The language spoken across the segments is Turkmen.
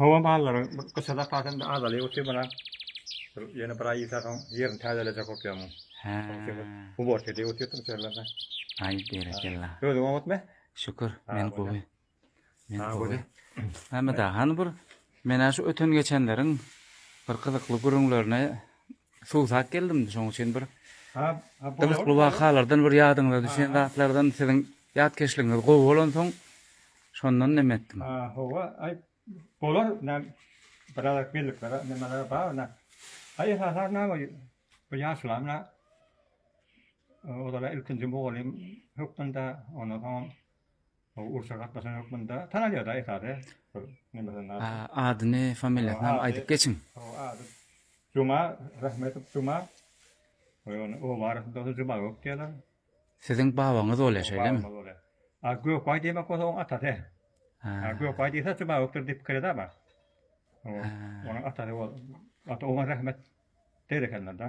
Howa mallaryň gyşa zapasy indi azalyp otyr munam. Bir ýene bir aý geçse soň ýerini täzelejek bolup ýörmün. Hä. Uborka edip otyryn içerilerde. Aý berekella. Özüň oňatmy? Şükür, men gowy. Men gowy. Mämmet aga, hany bir men-ä şu öten-geçenleriň bir gyzykly gürrüňlerine Suwsap geldim-de şoň üçin bir gyzykly wakalardan bir ýadyňyza düşen zatlardan siziň ýatkeşligiňiz gowy bolansoň şondan neme etdim. Hawa, aý bolar näme birazajyk bellikler nemeler bar nä. Aý esasan näme bu ýaşulam nä olara ilkinji mugallym hökmünde ondan soňam Ol urşa gatnaşan ýok munda. Tanalýada esasy. Bir nemesin ady. Adyny, familiýasyny hem aýdyp geçiň. Ady Juma Rahmetow Juma. Oý ony oba arasynda bolsa Juma gök diýerler. Siziň babaňyz bolýar şeýlemi? Babaňyz bolýar. A Gökbaý diýmek bolsa oň atasy. A Gökbaý diýse Juma gökdir diýip pikir edä bar. Onuň atasy ol. Ata oňa rahmet der ekenler-de.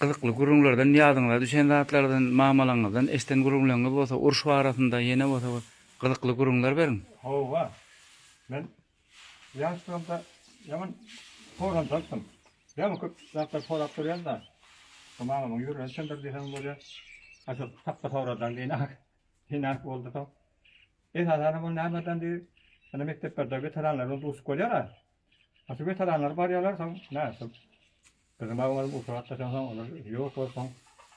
Gyzykly gürrüňlerden, ýadyňyza düşen zatlardan, mamalaňyzdan eşden gürrüňleriňiz bolsa, uruş barasynda, ýene bolsa bir gyzykly gürrüňler beriň. Hawa. Men ýaşlygymda ýaman soranjalykdym. Ýaman köp zatlar sorap durýan-da. Şu mamamyň ýüregine çendir diýseň bolýar. A şu tapgy sorajak diýen-ak, diýen-ak boldy soň. Esasanam ol nämedandyr, ýöne mekdeplerde weteranlar bilen duşup bolýar-a. Aşa wetaranlar barýarlar, soň nätdim. Gyzyma oňaryp usurat da soň olar ýok bolup soň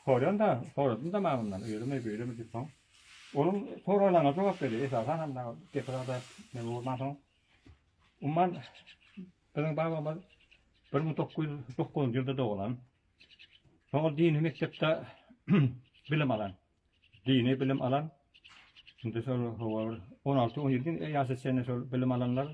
sorýan-da, soradym-da men ondan öýlemi, beýlemi diýip soň. Onuň soraglaryna jogap berýär. Esasan hem dagy gepi zada neme bolman soň. Umman biziň babamyz bir müň dokuz ýüz dokuzynjy ýylda doglan. Soň ol dini mekdepde bilim alan. Dini bilim alan. Indi şol hawa bir on alty, on ýedi ýaşa çenli şol bilim alanlar.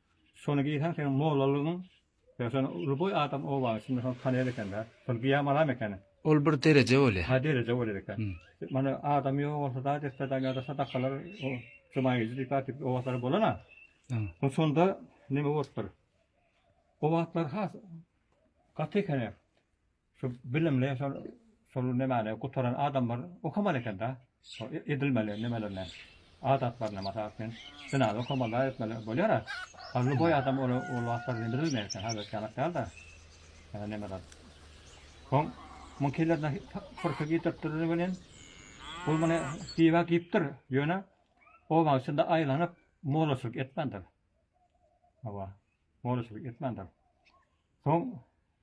Şony geýsen seň mollalygyň ýa şony uly boý adam oba içinde şony tanaýar ekende. Şony geýen balam ekeni. Ol bir dereje bolýa. Hä dereje bolar eken. Mana adam ýok bolsa da despedan ýa-da sadakalar o juma gije diýip aýdyp o wagtlar bolan-a. Hä. Şonda neme bolupdyr. O wagtlar has gaty ekeni. Şu bilimli şol şol nemäni gutaran adamlar okamaly eken-da. Şo edilmeli nemelerine, adatlaryna mysal üçin, zinany okamazlar etmeli bolýar-a. A luboý adam ol ol wagtlar bilmeýär eken, häzirki ýanak däl-de. Ýa nemeler. Soň muň kelläsine pyrka getiripdirler welin, ol muny diýibä diýipdir, ýöne obaň içinde aýlanyp, mollaçylyk etmändir. Hawa. Molluşylyk etmändir. Soň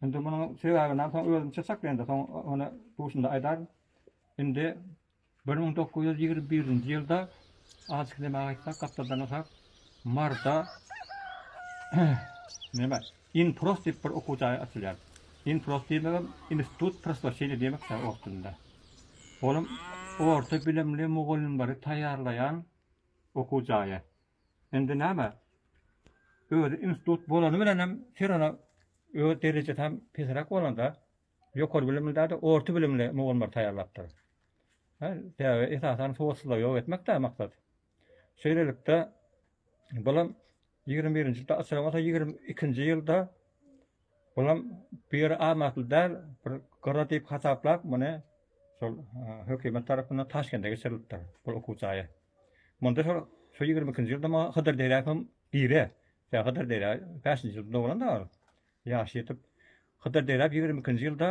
indi munuň sebäbini soň özüm çyzjak indi. Soň ony duşunda aýdaryn. Indi 1921-nji ýylda azajyk näme aýtsak, gapdaldan atak marda näme? Inprost diýip bir okuw jaýy açylýar. Inprost diýmegem institut proswetçini diýmek ýa ors dilinde. Olam orta bilimli mugallymlary taýýarlaýan okuw jaýy. Indi näme? Özi institut bolany bilenem Firona öz derejesi hem pesräk bolanda ýokary bilimli däl-de orta bilimli mugallymlar taýýarlapdyr. Hä, sebäbi esasan sowatsyzlygy ýok etmekdä maksat. Şeýlelikde bulam ýigrimi birinji asyrda bolsa ýigrimi ikinji ýylda Olam bu ýere amatly däl, bir gyra diýip hasaplap, muny şol hökümet tarapyndan Taşkende geçirilipdir, bu okuw jaýy. Munda şol şu ýigrimi ikinji ýylda maňa Hydyr Derýew hem gire. Sebäbi Hydyr Derýew bäşinji ýylda doglan-da ol. Ýaşy ýetip, Hydyr Derýew ýigrimi ikinji ýylda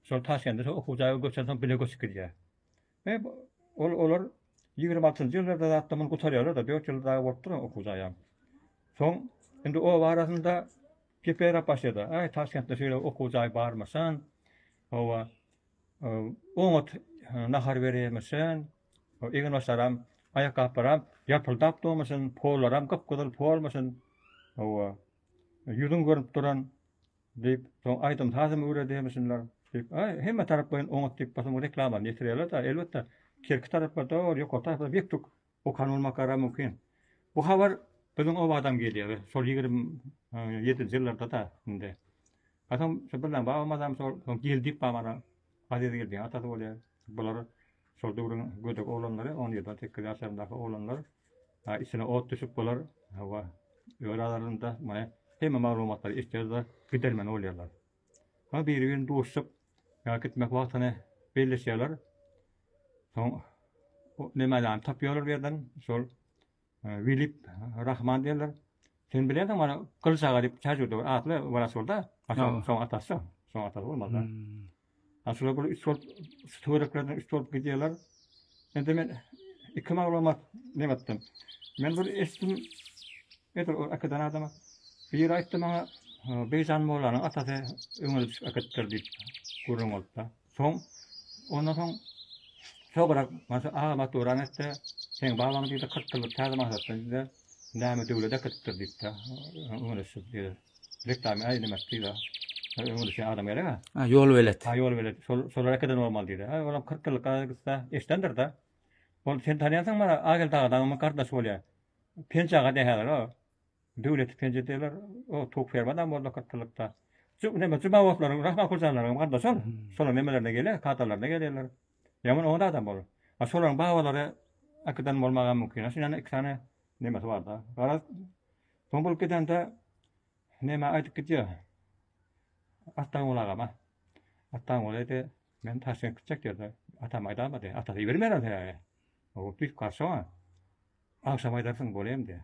şol Taşkende şol okuw jaýy göçensoň bile göçüp gidýär. He, ol, olar ýigrimi altynjy ýyllarda zatda muny gutarýarlar-da, dört ýyl dagy bolup dur-a okuw jaýam. Soň, indi oba arasynda geperäp başlady, Aý, Taşkentde şeýle okuw jaý barmyşyn, hawa, oňat nahar berýärmişin, eginbaşlaram, aýakgaplaram ýapyldap durmuşyn, pollaram gyp-gyzyl polmuşyn, hawa, ýüzüň görnüp duran, Diýip, soň aýdym-sazam öwredeýmişinler. Diýip, aý, hemme taraplaýyn oňat diýip, basym reklamany ýetirýärler-de, elbetde, kerki taraplar dol, ýokary taraplar bek-tuk okan bolmakara mümkin. Bu habar biziň obadam gelýär, şol ýigrimi ýedinji ýyllarda-da indi. Hasam şo Birnäm babamyzam şol Geldiýew babana Azizgeldiň atasy bolýar. Bular şol döwrüň gödek oglanlary, on ýedi-on sekiz ýaşlaryndaky oglanlar. Içine ot düşüp bular hawa, öz aralarynda maňa hemme maglumatlary eşidýärler, gidermeni bolýarlar. Soň biri-birini duşup, gitmek wagtyny belleşýärler. Soň Nemäläni tapýarlar bu ýerden, şol Wilip Rahman diýerler. Sen bilensiň mana Gylyç aga diýip Täjirde bir atly wraç bolda. Şoň atasy. Şoň atasy bolmaly. Ha şular bu üç bolup töwereklerden üç bolup gidýärler. Indi men iki maglumat näme etdim. Men bir eşitdim. Edir o akadan adama. Bir aýtdy maňa Beýjan Mollanyň atasy öňe düşüp aketdir diýip gürrüň bolupda. Soň, ondan soň Tograk Mansur aga mat gören etdi. Seň babaň diýdi, 40 ýyllyk täze maşgatdan diýdi. Näme döwlet äkidipdir diýipdi. Öňüne şu diýdi. Reklama äýlemek diýdi. Öňüne şu adam gerek-ä. Ha, ýolbelet. Ha, ýolbelet. Şol, şolar äkiden bolmaly diýdi. Ha, olam 40 ýyllyk gaýgy gitse, eşidendir-de. Ol sen tanýansyňmy? Ageldi aga dagymyň gardaşy bolýar. Penji aga diýýär häzir o. Döwlet ikinji diýler. O Tug Fermanam boldy gytlykda. Şu näme Jumabotlaryň, Rahman Hojanlaryň gardaşy ol. Şolaryň nemelerine gelýär, kadalaryna gelýärler. Ýaman oňat adam ol. A şolaryň babalary Akydan bolmagam mümkin. Şuny ýany iki sany nemesi bar-da. Garaz, soň bolup gidende näme aýdyp gidýär. Atdanguly agama. Atdanguly diýdi, men Taşkent gitjek diýdi. Atam aýdama diýdi. Atasy ibermeýär ol sebäbi. Ol düýp garşy oňa. Agşam aýdarsyň, bolýam diýdi.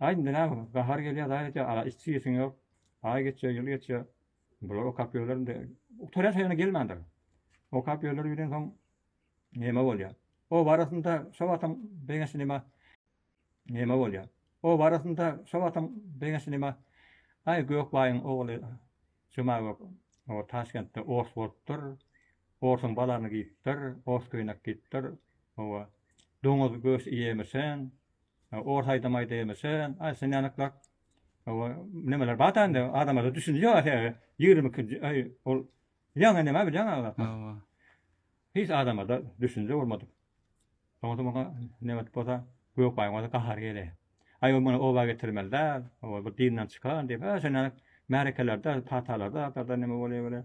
Aý indi näme bolar? Gahar gelýär daýy diýýär, Ala içjek işiň ýok. Aý geçýär, ýyl geçýär. Bular okap ýörler indi. Gutarýar şeýle gelmändir. Okap ýörler bilensoň neme bolýar? Oba arasynda şo wagtam Begenç neme neme bolýar? Oba arasynda şo wagtam Begenç neme Aý Gökbaýyň ogly Jumagök o Taşkentde ors bolupdyr. Orsuň balaryny giýipdir, ors köýnek giýipdir. Oba doňuz göç iýemisen, Ors aýdamaýda ýemişe, aý sen ýanyklak nemeler bada indi adamada düşünje ýok äheýe ýigrimi ikinji aý ol ýaňy näme bilýän agzapmy hiç adamada düşünje bolmadyk soňra muňa nebet bolsa gök baýyň bolsa gahary gele aý ol muny oba getirmeli däl ol bir dinden çykan diýip sen ýanyk märekelerde patalarda atarda näme bolýa bile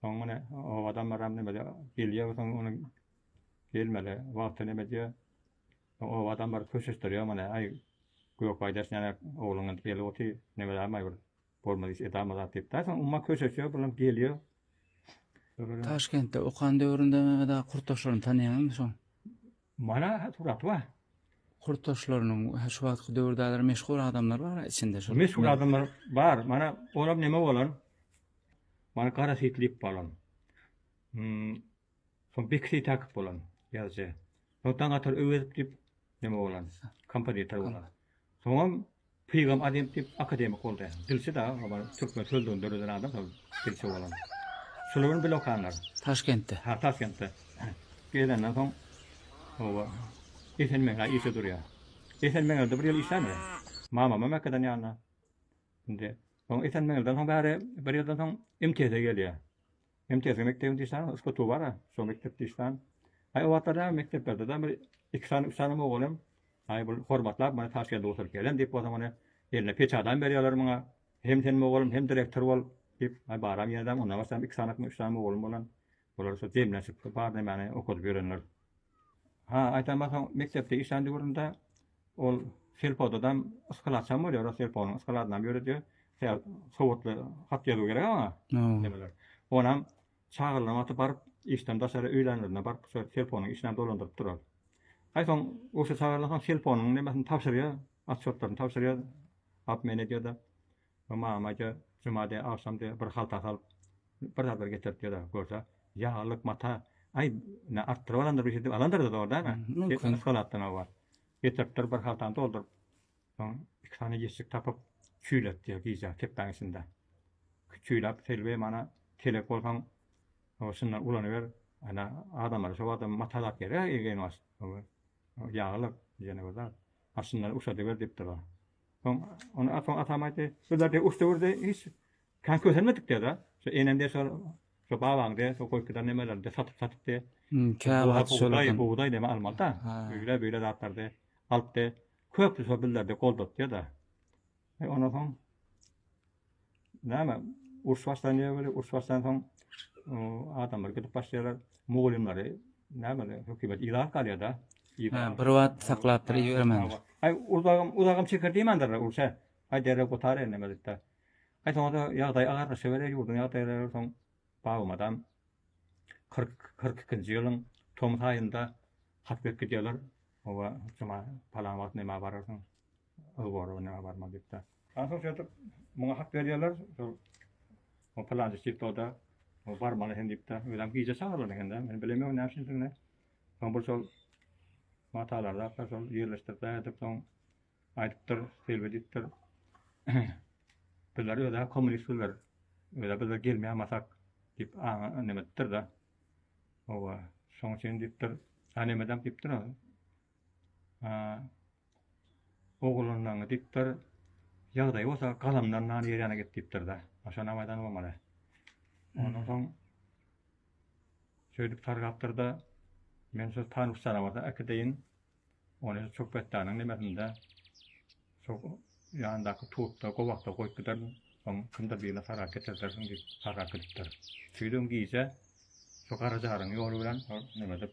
Soň muny o adamlaram näme gelýär we soň onuň gelmeli wagty näme diýýär. Soň o adamlar köşeşdirýär muny. Aý, Gökaýdaş näme ogluň indi gelip otyr, nämelämaý bir bolmaz iş edämaý zat diýip. Daýy soň umma köşeşýär, bulam gelýär. Taşkentde okan döwründe Mehmet aga Kurtaşyny tanaýaňyzmy soň? Mana surat bar. Kurtdaşlarynyň hä şu wagtky döwürdaler meşhur adamlar bar a içinde şol. Meşhur adamlar bar. Mana olam neme bolan? Mana gara sitlik bolan. Hmm. Son bekisi takip bolan yazıcı. Ondan gatar öwezip dip neme bolan? Kompozitor bolan. Soňam Pygam Azem diýip akademik boldy. Dilçi da obar türkmen sözlügini döreden adam şol dilçi bolan. Şular bilen bile okanlar. Taşkentde. Ha Taşkentde. Gelenden soň oba Esen Meňlä işe durýa. Esen Meňlede bir ýyl işlän we mamama Mekgeden ýanyna. Indi soň Esen Meňleden soň bäri bir ýyldan soň MTS-e gelýä. MTS mekdebiň diýsana yskutu bara, şo mekdep diýsana. Aý o wagtlarda mekdeplerde-de bir iki sany, üç sany mugallym, aý bu hormatlap mana Taşkende oturyp gelen diýip bolsa mana eline peçadam berýärler muňa. Hem sen mugallym, hem direktor bol diýip, aý baram ýene-de ondan başga iki sanykmy, üç sany mugallym bolan. Bular şo jemlenşip bar nemeni okadyp ýörenler. Ha, aýtamma soň mekdepde işlän döwründe Ol selfodadan yskalaçam bolýar, rus selfonyň yskaladanam ýöredýär. Sebäbi sowatly hat ýazuw gerek aňa. Nemeler. Onam çagyrylan wagty baryp, işden daşary öýlänlerinde baryp, şol selfonyň işini dolandyryp durar. Aý soň urşa çagyrylansoň selfonyň nemesini tabşyrýar, otçýotlaryny tabşyrýar, obmen edýär-de. Bu mamaja juma de agşam de bir halta salyp bir zadlar getirip ýa-da görse ýaglyk mata aý ne artdyryp alandyr bir şeýdip alandyr zorda ana mümkin yskalatdan hawa getiripdir bir haltany dolduryp soň iki sany ýeşik tapyp çüýletdi gije kepbäň içinde çüýläp selbi mana telek bolsaň o şundan ulanyber ana adamlara şo wagtam mata zat gerek ýaglyk ýene bir zat ha şundan uşadyber diýipdir o Soň ony atam atam aýtdy. Bizler de usta urdy. Hiç kan kösenmedik diýdi da. Şu enem de şol şu babaň de şu goýkydan nemeler de satyp satyp de. Hmm, Käwagt şol. Daýy bu daýy neme almaly da. Öýle beýle zatlar de. Alyp de köp şu bizler de goldat diýdi. Ondan soň Näme? Uruş başlanýar weli, uruş başlansoň adamlar gidip başlaýarlar, mugallymlary näme hökümet ilat galýar-da. Bir wagt saklap bir ýörmän. Aý, uzagym, uzagym çeker diýmändirler urşa. Aý, derek gutar indi mezitde. Aý, soňra ýagdaý agarlaşa bile ýurduň ýagdaýlary soň babam adam 40 42-nji ýylyň tomus aýynda hat berip gidýärler. Owa, juma palan wagt näme bararsyň? Ygor näme barmaly diýip. Ahyr şeýdip muňa hat berýärler. O plançy çiktoda o barmaly hem diýipdi. Özem gije çagyrlan ekende. Men bilemok näme üçindigini. Soň bir şol matalarda akar şol ýerleşdirdi edip soň aýdypdyr, selbi diýipdir. Bizler öde kommunist bizler. Öde bizler gelmeýän masak diýip aňa nemetdir da. Owa, şoň üçin diýipdir. Anemedem diýipdir. Ogulyndan gidipdir. Ýagdaýy bolsa galamdan nany ýer ýana git diýipdir-de. Aşa namaydan bolmaly. Ondan soň şeýdip sargapdyr-da, men şu tanus janawara äkideýin. Ony çöketdäniň nemesinde şu ýandaky tutda, gowakda goýup giderin. Soň kimdir birine sargap getirdersiň diýip sargap gidipdir. Şeýdibem gije şu Garajaryň ýoly bilen ol neme edip,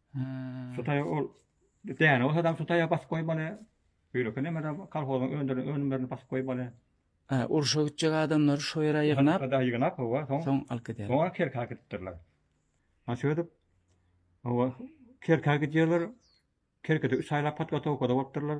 Sutaýa ol däne bolsa adam sutaýa basyp goýmaly. Beýleki näme de kolhozyň öndüren önümlerini basyp goýmaly. Hä, urşa gitjek adamlary şo ýere ýygnap. Ada ýygnap, howa, soň. Soň alyp gider. Soň kerka gitdirler. Ha şeýdip, howa, kerka gidýärler. Kerkede üç aýlap podgotowkada bolupdyrlar.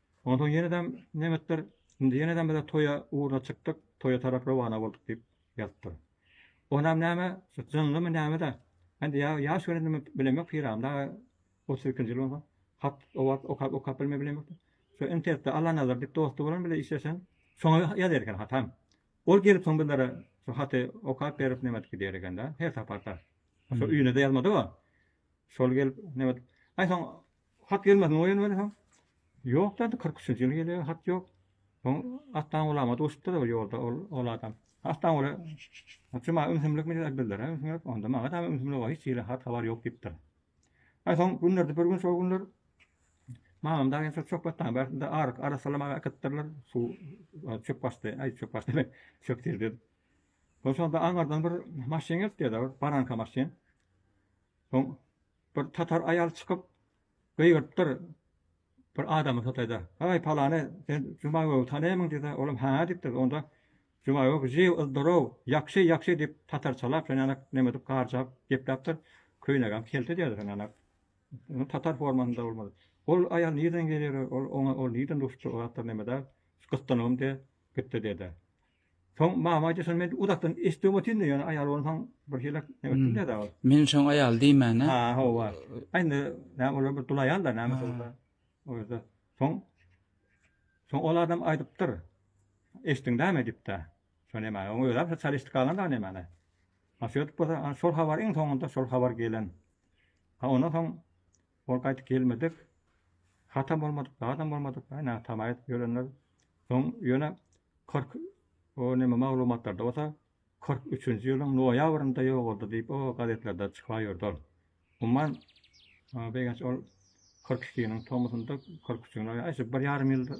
Onsoň ýene-dem nebetdir, indi ýene-de bize toýa ugruna çykdyk, toýa tarap rowana bolduk diýip ýazypdyr. Onam näme, şu jynlymy näme-de, indi ýa ýaş gelenimi bilemok, Pyragyny dagy otuz ikinji ýyl bolsa, hat, owaz okap-okap bilme bilemok. Şu internetde Allanazar diýip dosty bolan bile işleşen, şoňa ýazar eken hatam. Ol gelip soň bizlere şu haty okap berip nebedip gidýär eken-dä, her saparda. Şo üýne-de ýazmady-ow. Şol gelip nebedip, aý soň Hat gelmesin oýun welin ýok däl kyrk üçünji ýyl gelýär hat ýok. Soň Aslan gulama duşupdyr ol ýolda ol ol adam. Aslan gula Juma ümsümlik mi bildirä ümsümlik onda maňa da ümsümlik o hiç hili hat habar ýok diýipdir. Aý soň günlerde bir gün şol günler Mamam daýy şol çöpatdan bärsinde aryk arassalamaga äkitdirler suw çöp basdy aý çöp basdy demek çöp serdi. Soň şonda aňardan bir maşyn gelipdi ýa-da bir baranka maşyn. Soň Bir tatar aýal çykyp gygyrypdyr bir adamy Hytaýda. Haý palany sen Juma gögi tanaýmyň diýse, olam ha diýipdir. Onda Juma gögi žiw, zdorow, ýagşy, ýagşy diýip tatarçalap şonýanak neme edip garjap gepläpdir. Köýnegem kelte diýerdi şonýanak. Ol tatar formasynda bolmady. Ol aýal nireden gelir, ol oňa ol nireden rusça o zatlar neme däl. Gyssanygym diýip gitdi dede. Soň mama aýtdy, şony men uzakdan eşitdim otyryn-da, ýöne aýal bolsaň birhili neme etdim-de dagy. Men şoň aýal diýmäne. Ha, hawa. A indi näme olar bir dul aýal-da, näme bolsa. O ýerde. Soň Soň ol adam aýdypdyr. Eşitdiňdämi diýip-de. Şony näme, oň özem şo çalyşdy galan dagy nämäni. A şeýdip bolsa, şol habar iň soňunda şol habar gelen. A ondan soň Ol gaýdyp gelmedik. Hatam bolmadyk, badam bolmadyk. Aý näme tama edip ýörenler. Soň ýöne kyrk o näme maglumatlarda bolsa kyrk üçünji ýylyň noýabrynda ýogaldy diýip o gazetlerde çyka ýördi ol. Umuman begenç ol kyrk ikiniň tomusynda kyrk üçüň noýa aý şu bir ýarym ýylda